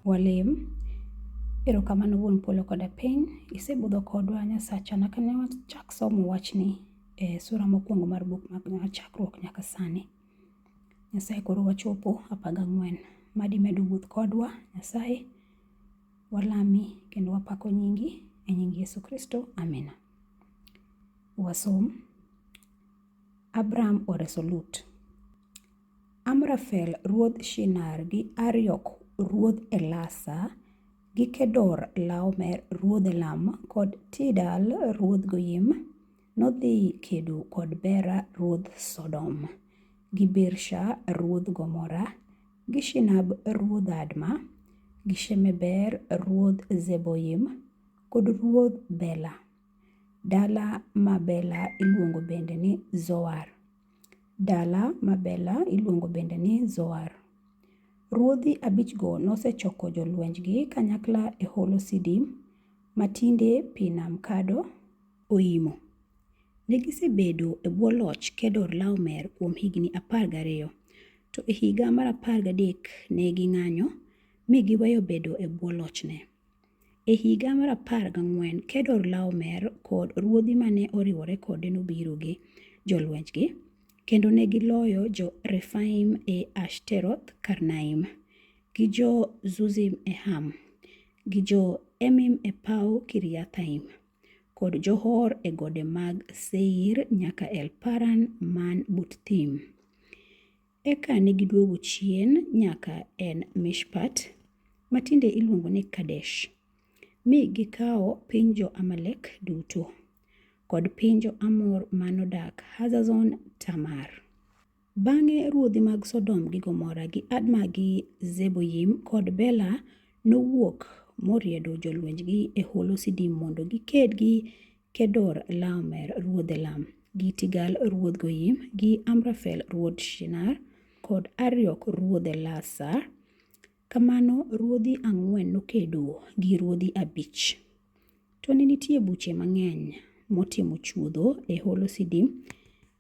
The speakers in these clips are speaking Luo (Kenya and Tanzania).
Walem. Erokamano wuon polo koda piny, isebudho kodwa Nyasacha nyaka ne wachak somo wachni e sura mokwongo mar buk mar chakruok nyaka sani. Nyasaye koro wachopo apar gang'wen. Mad imed wuoth kodwa Nyasaye, walami kendo wapako nyingi e nying Yesu Kristo, amina. Wasom. Abram oreso Lut. Amrafel ruodh Shinar gi Ariok ruodh Elasa gi Kedor Laomer ruodh Elam kod Tidal ruodh Goyim nodhi kedo kod Bera ruodh Sodom gi Birsha ruodh Gomora gi Shinab ruodh Adma gi Shemeber ruodh Zeboyim kod ruodh Bela. Dala ma Bela iluongo bende ni Zoar. Dala ma Bela iluongo bende ni Zoar. Ruodhi abichgo nosechoko jolwenjgi kanyakla e holo Sidim, matinde pi nam kado oimo. Ne gisebedo e bwo loch Kedor Laomer kuom higni apar gariyo, to e higa mar apar gadek ne ging'anyo, mi giweyo bedo e bwo lochne. E higa mar apar gang'wen, Kedor Laomer kod ruodhi ma ne oriwore kode nobiro gi jolwenjgi, kendo ne giloyo Jo-Refaim e Ashteroth Karnaim, gi Jo-Zuzim e Ham, gi Jo-Emim e paw Kiriathaim, kod Jo-Hor e gode mag Seir nyaka El Paran man but thim. Eka ne giduogo chien nyaka En Mishpat, ma tinde iluongo ni Kadesh, mi gikawo piny jo-Amalek duto, kod piny jo-Amor ma nodak Hazazon Tamar. Bang'e ruodhi mag Sodom gi Gomora gi Adma gi Zeboyim kod Bela nowuok moriedo jolwenjgi e holo Sidim mondo giked gi Kedor Laomer ruodh Elam, gi Tigal ruodh Goyim, gi Amrafel ruodh Shinar, kod Ariok ruodh Elasar. Kamano ruodhi ang'wen nokedo gi ruodhi abich. To ne nitie buche mang'eny motimo chuodho e holo Sidim,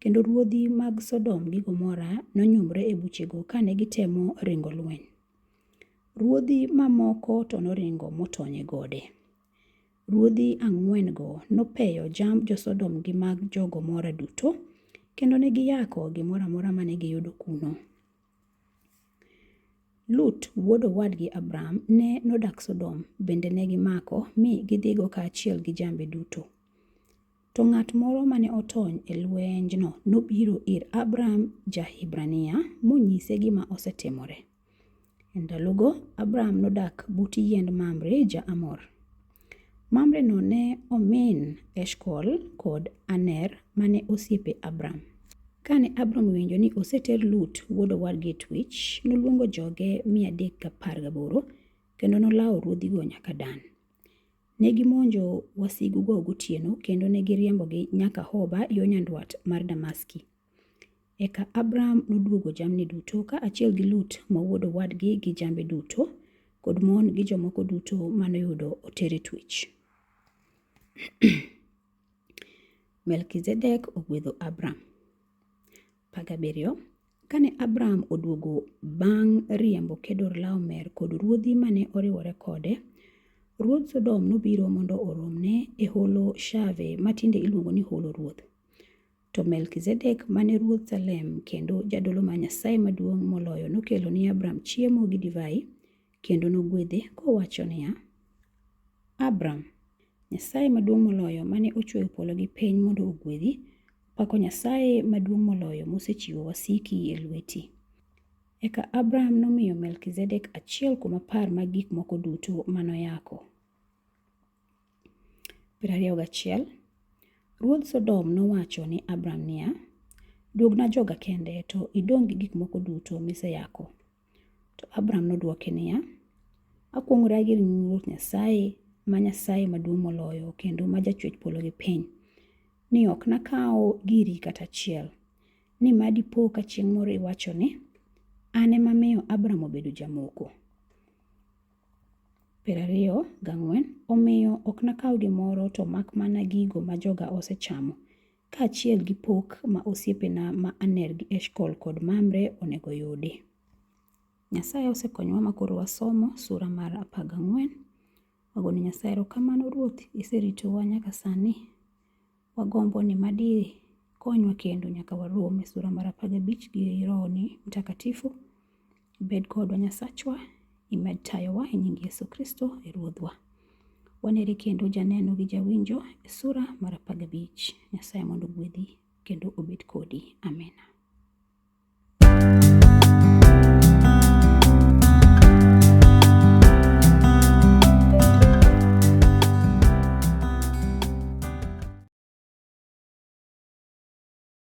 kendo ruodhi mag Sodom gi Gomora nonyumre e buchego kane gitemo ringo lweny. Ruodhi mamoko to noringo motony e gode. Ruodhi ang'wen-go nopeyo jamb jo-Sodom gi mag jo-Gomora duto, kendo ne giyako gimoro amora mane giyudo kuno. Lut wuod owadgi Abram ne nodak Sodom, bende ne gimako mi gidhigo kaachiel gi jambe duto. To ng'at moro mane otony e lwenjno nobiro ir Abram ja-Hibrania monyise gima osetimore. E ndalogo Abram nodak but yiend Mamre ja-Amor. Mamreno ne omin Eshkol kod Aner mane osiepe Abram. Kane Abram owinjo ni oseter Lut wuod owadgi e twech, noluongo joge mia adek gapar gaboro kendo nolawo ruodhigo nyaka Dan. Ne gimonjo wasigugo gotieno kendo ne giriembogi nyaka Hoba yo nyandwat mar Damaski. Eka Abram noduogo jamni duto kaachiel gi Lut ma wuod owadgi gi jambe duto kod mon gi jomoko duto manoyudo otere twech. Melkizedek ogwedho Abram. 17. Kane Abraham oduogo bang' riembo Kedorlaomer kod ruodhi mane oriwore kode, ruodh Sodom nobiro mondo oromne e holo Shave ma tinde iluongo ni Holo Ruoth. To Melkizedek mane ruodh Salem kendo jadolo ma Nyasaye maduong' moloyo nokelo ni Abram chiemo gi divai kendo nogwedhe kowacho niya, Abram, Nyasaye maduong' moloyo mane ochweyo polo gi piny mondo ogwedhi Pako Nyasaye maduong' moloyo mosechiwo wasiki e lweti. Eka Abraham nomiyo Melkizedek achiel kuom apar mag gik moko duto manoyako. Piero ariyo gachiel. Ruodh Sodom nowacho ni Abraham niya, Duogna joga kende to idong' gi gik moko duto miseyako. To Abram nodwoke niya, Akuong'ora gi ring Ruoth Nyasaye, ma Nyasaye maduong' moloyo, kendo ma jachwech polo gi piny, ni ok nakawo giri kata achiel. Ni ma dipo ka chieng' moro iwacho ni, An ema miyo Abram obedo jamoko. Piero ariyo gang'wen, omiyo ok nakaw gimoro to mak mana gigo ma joga osechamo, kaachiel gi pok ma osiepena ma Aner gi Eshkol kod Mamre onego yudi. Nyasaye osekonyowa ma koro wasomo sura mar apar gang'wen. Wagone Nyasaye erokamano Ruoth iseritowa nyaka sani. Wagombo ni madi konywa kendo nyaka warom e sura mar apar gabich gi rohoni mtakatifu. Bed kodwa Nyasachwa, imed tayowa e nying Yesu Kristo e Ruodhwa. Waneri kendo janeno gi jawinjo e sura mar apar gabich. Nyasaye mondo ogwedhi kendo obed kodi. Amina.